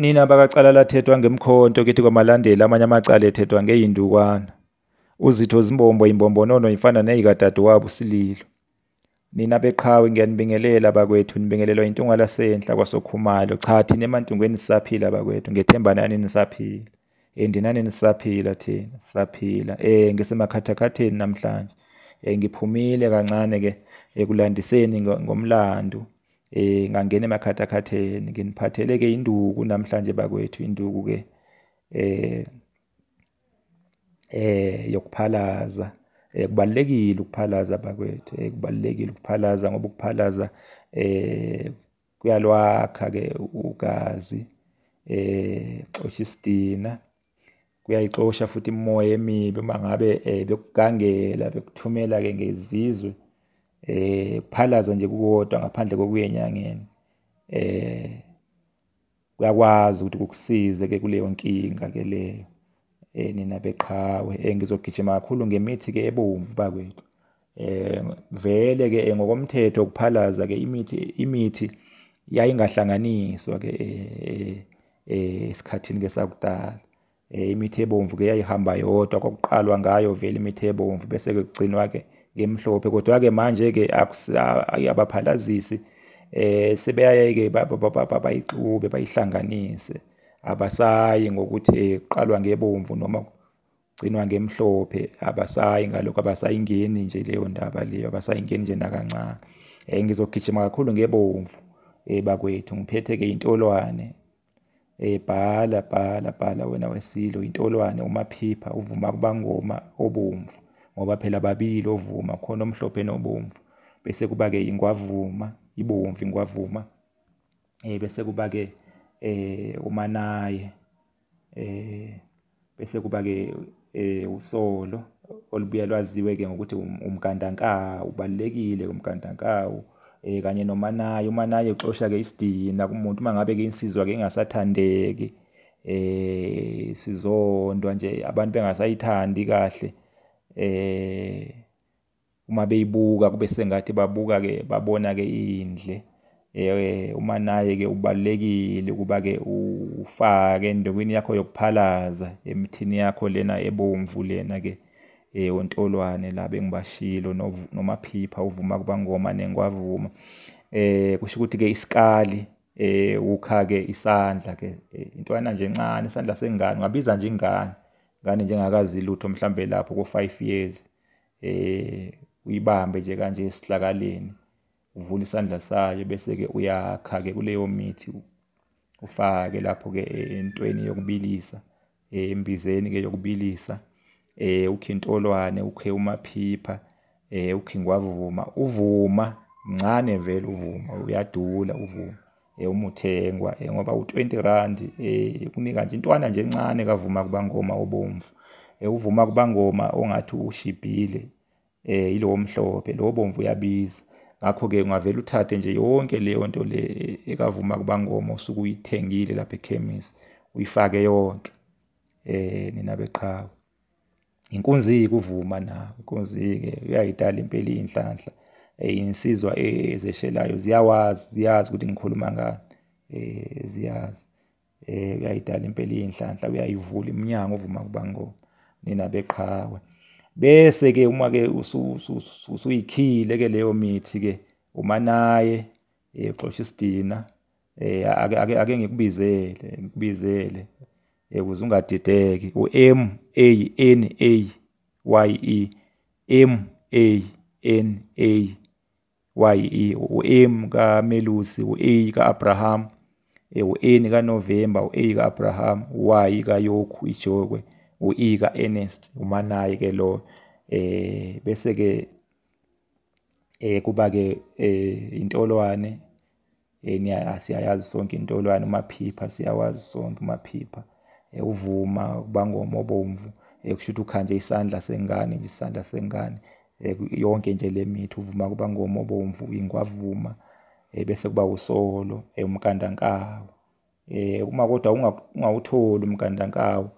Nina bakacala lathethwa ngemkhonto kithi kwamalandela amanye amacala ethethwa ngeyindukwana. Uzitho zimbombo imbombonono ifana neyikadadewabo uSililo. Nina beqhawe ngiyanibingelela bakwethu nibingelelwa intunga lasenhla kwasokhumalo. Cha thina emantungweni sisaphila bakwethu ngethemba nani nisaphila. Eh ndinani nisaphila thina sisaphila. Eh ngisemakhathakhatheni namhlanje. Eh ngiphumile kancane ke ekulandiseni ngomlando. eh ngangena emakhathakhatheni nginiphathele ke induku namhlanje bakwethu induku ke eh eh yokuphalaza eh kubalekile ukuphalaza bakwethu eh kubalekile ukuphalaza ngoba ukuphalaza eh kuyalwakha ke ugazi eh xoshisitina kuyayixosha futhi imimoya emibi uma ngabe um bekugangela bekuthumela-ke ngezizwe um kuphalaza nje kukodwa ngaphandle kokuyenyangeni um kuyakwazi ukuthi kukusize-ke kuleyo nkinga-ke leyo um nina beqhawe um ngizogijima kakhulu ngemithi-ke ebomvu bakwethu eh vele ke eh, ngokomthetho kuphalaza ke imithi imithi yayingahlanganiswa ke eh, eh esikhathini ke sakudala eh, imithi ebomvu ke yayihamba yodwa kokuqalwa ngayo vele imithi ebomvu bese ke kugcinwa ke ngemhlophe kodwa ke manje ke akuyabaphalazisi eh sebeyayeke bayixube bayihlanganise abasayi ngokuthi eh, qalwa ngebomvu noma gcinwa ngemhlophe abasayi ngalokho abasayingeni nje leyo ndaba leyo abasayingeni nje nakancane um ngizogijima kakhulu ngebomvu um bakwethu ngiphethe-ke intolwane um bhala bhala bhala wena wesilo intolwane umaphipha uvuma kubangoma obomvu ngoba phela babili ovuma khona omhlophe nobomvu bese kuba-ke ingwavuma ibomvu ingwavuma um bese kuba-ke um umanaye eh bese kuba ke eh usolo olubuya lwaziwe ke ngokuthi um, umgandankawu ubalekile umgandankawu eh kanye nomanaye umanaye uxosha ke isidina kumuntu uma ngabe ke insizwa ke ingasathandeki eh sizondwa nje abantu bengasayithandi kahle eh uma beyibuka kube sengathi babuka-ke babona-ke indle eh uma naye ke ubalekile ukuba ke ufake endokwini yakho yokuphalaza emithini yakho lena ebomvu lena ke eh ontolwane la bengibashilo nomaphipha uvuma kubangoma nengwavuma eh kusho ukuthi ke isikali eh ukha ke isandla ke eh, intwana nje encane isandla sengane ngabiza nje ingane ngane njengakazi lutho mhlambe lapho ko 5 years eh uyibambe nje kanje esihlakaleni uvula isandla sayo bese ke uyakha ke kuleyo mithi ufake lapho ke entweni yokubilisa eh, embizeni ke yokubilisa eh ukhe intolwane ukhe umaphipha eh ukhe ngwavuma uvuma mncane vele uvuma uyadula uvuma eh, umuthengwa eh, ngoba u-20 rand eh, kunika nje intwana nje encane kavuma kubangoma obomvu eh, uvuma kubangoma ongathi ushibhile eh, yilowo mhlophe lowo bomvu uyabiza ngakho-ke ungavele uthathe nje yonke leyo nto le eh, ekavuma kubangoma osuke uyithengile lapha ekhemisi uyifake yonke eh nina beqhawe inkunzi ikuvuma na inkunzi ke uyayidala impela inhlanhla eh, insizwa ezeshelayo ziyawazi ziyazi ukuthi ngikhuluma ngani eh ziyazi eh uyayidala impela inhlanhla uyayivula iminyango uvuma kuba ngo nina beqhawe bese ke uma ke usuyikhile ke leyo mithi ke uma naye eh, uxosha isidina eh ake ake ake ngikubizele ngikubizele eh kuze ungadideki u M A N A Y E M A N A Y E u M ka Melusi u A ka Abraham eh u N ka November u A ka Abraham Y ka Yokhu ijokwe u E ka Ernest umanayi ke lo eh bese ke eh kuba ke eh intolwane yeni asiyayazi sonke intolwane umaphipha siyawazi sonke umaphipha eh, uvuma kubangoma obomvu eh, kusho ukuthi ukhanje isandla sengane nje isandla sengane eh, yonke nje le mithi uvuma kubangoma obomvu ingwavuma bese kuba usolo umkandankawu eh uma kodwa ungawutholi umgandankawu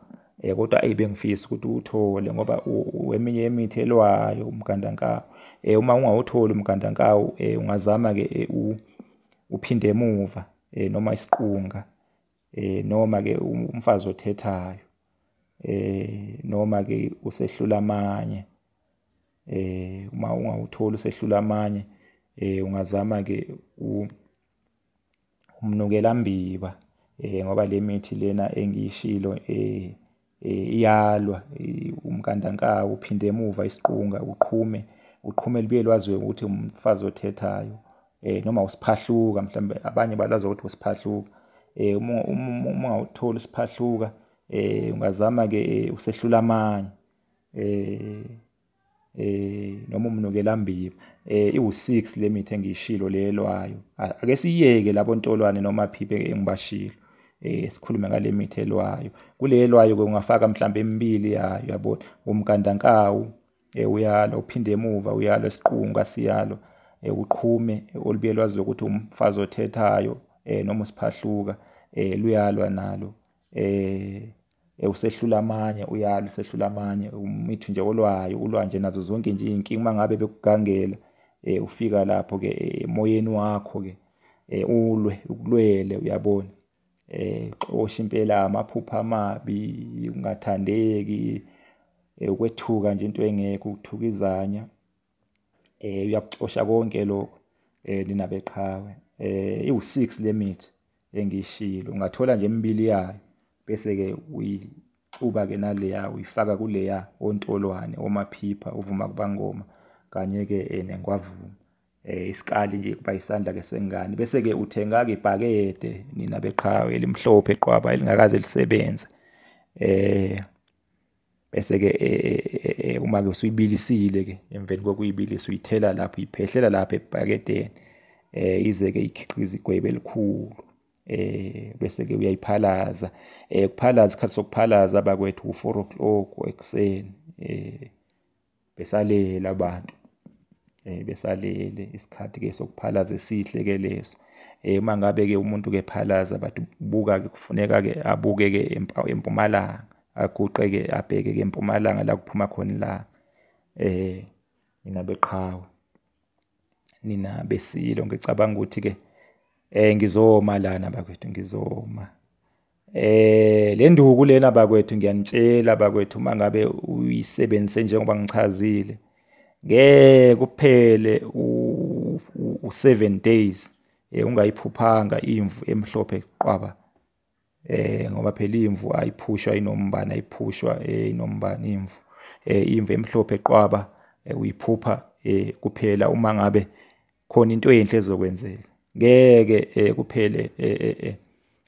eh kodwa ayi bengifisa ukuthi uwuthole ngoba weminye yemithi elwayo umgandankawu eh uma ungawutholi umgandankawu eh ungazama ke eh, uphinde emuva eh noma isiqunga eh noma ke umfazi othethayo eh noma ke usehlula amanye eh uma ungawutholi usehlula amanye eh ungazama ke u umnukela mbiba eh ngoba le mithi lena engiyishilo eh, eh iyalwa umkandankawu uphinde emuva isiqunga uqhume uqhume libuye lwaziwe ukuthi umfazi othethayo eh noma usiphahluka mhlawumbe abanye balazi ukuthi usiphahluka eh uma uma uthola isiphahluka eh ungazama ke eh, usehlula amanye eh eh noma umnukela mbiba eh iwu6 limit engiyishilo lelwayo ake siyeke labo ntolwane noma phiphe engibashilo eh sikhulume ngale mithi elwayo kulelwayo ke ungafaka mhlawumbe emibili yayo yabona umgandankawu eh uyalo uphinde emuva uyalo esiqunga siyalo eh uqhume eh, olubuye lwazi ukuthi umfazi othethayo eh noma usiphahluka eh luyalwa nalo eh Eh, usehlula amanye uyala usehlula amanye umithu nje olwayo ulwa nje nazo zonke nje iy'nkinga uma ngabe bekugangela um ufika lapho-ke eh, emoyeni wakho-ke um ulwe ukulwele uyabona um xosha impela amaphupha amabi ukungathandeki ukwethuka nje into engekho ukuthuka izanya eh uyakuxosha konke lokho eh nina beqhawe eh iwu6 lemithi engishilo ungathola nje imibili yayo bese ke uyixuba ke naleya uyifaka kuleya ontolwane omaphipha uvuma kubangoma kanye ke eh, nengwavuma eh isikali nje kuba isandla ke sengane bese ke uthenga ke ibhakede nina beqhawe elimhlophe qwaba elingakaze lisebenze eh bese ke e, e, e, uma ke usuyibilisile ke emveni kokuyibilisa uyithela lapho iphehlela lapho ebhakedeni eh ize ke ikhiqiza igwebe elikhulu eh bese ke uyayiphalaza eh kuphalaza isikhathi sokuphalaza abakwethu u4 o'clock ekuseni eh besalele abantu eh besalele isikhathi ke sokuphalaza esihle ke leso eh uma ngabe ke umuntu ke phalaza but buka ke kufuneka ke abuke ke empumalanga aguqe ke abheke ke empumalanga la kuphuma khona la eh mina beqhawe nina besilo ngicabanga ukuthi ke eh ngizoma lana bakwethu ngizoma Eh le nduku lena bakwethu ngiyanitshela bakwethu uma ngabe uyisebenzise njengoba ngichazile ngeke kuphele u7 days eh ungayiphuphanga imvu emhlophe qwaba eh ngoba phela imvu ayiphushwa inombani ayiphushwa eh, inombani imvu eh imvu emhlophe qwaba eh, uyiphupha eh kuphela uma ngabe khona into enhle ezokwenzeka ngeke eh, kuphele eh, eh, eh.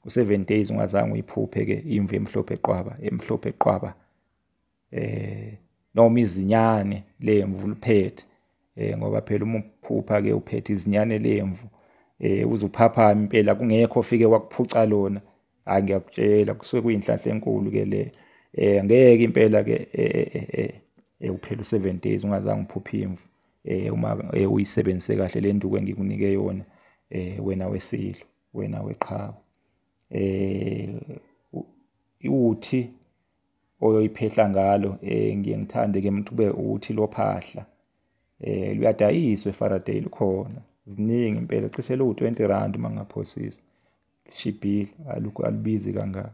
u7 days ungazange uyiphuphe ke imvu emhlophe qwaba emhlophe qwaba eh noma izinyane lemvu liphethe eh ngoba phela uma uphupha ke uphethe izinyane lemvu eh uzuphapha impela kungekho ofike wakuphuca lona hayi ngiyakutshela kusuke kuyinhlanhla enkulu ke le eh ngeke impela ke eh, eh, eh, eh uphela u7 days ungazange uphuphe imvu eh uma eh, uyisebenzise kahle le nduku engikunike yona eh wena wesilo wena weqhawe eh uthi oyoyiphehla ngalo eh ngiye ngithande ke umuntu kube uthi lophahla eh luyadayiswa eFaraday lukhona ziningi impela cishe lu 20 rand mangaphosisa lishibhile alukho alubizi kangaka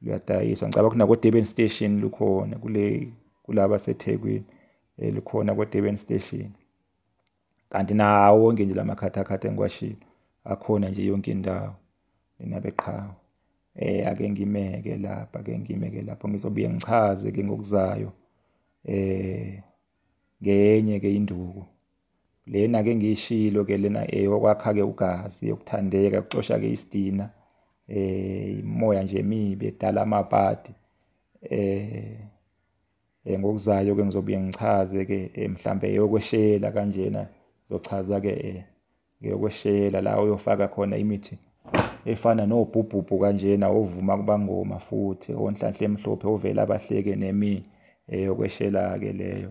luyadayiswa ngicabanga ukuthi nakodurban station lukhona kule kulaba sethekwini eh, likhona kodurban station kanti nawo wonke nje la makhathakhatha engiwashilo akhona nje yonke indawo mina beqhawe eh ake ngimeke lapha ake ngimeke lapho ngizobuye ngichaze ke ngokuzayo eh ngenye ke induku lena ke ngiyishilo ke lena eyokwakha eh, ke ugazi yokuthandeka kucosha ke isidina eh imoya nje emibi edala amapati eh, eh ngokuzayo ke ngizobuye ngichaze ke eh, mhlambe eyokweshela kanjena zochaza ke ngeyokweshela la uyofaka khona imithi efana nobhubhubhu kanjena ovuma kubangoma futhi onhlanhla emhlophe ovela abahleke nemi eyokweshela ke leyo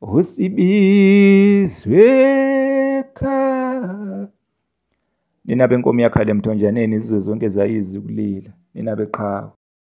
usibizwe ekhaya nina benkomo yakhala emthonjaneni izizwe zonke zayizi ukulila nina beqhawe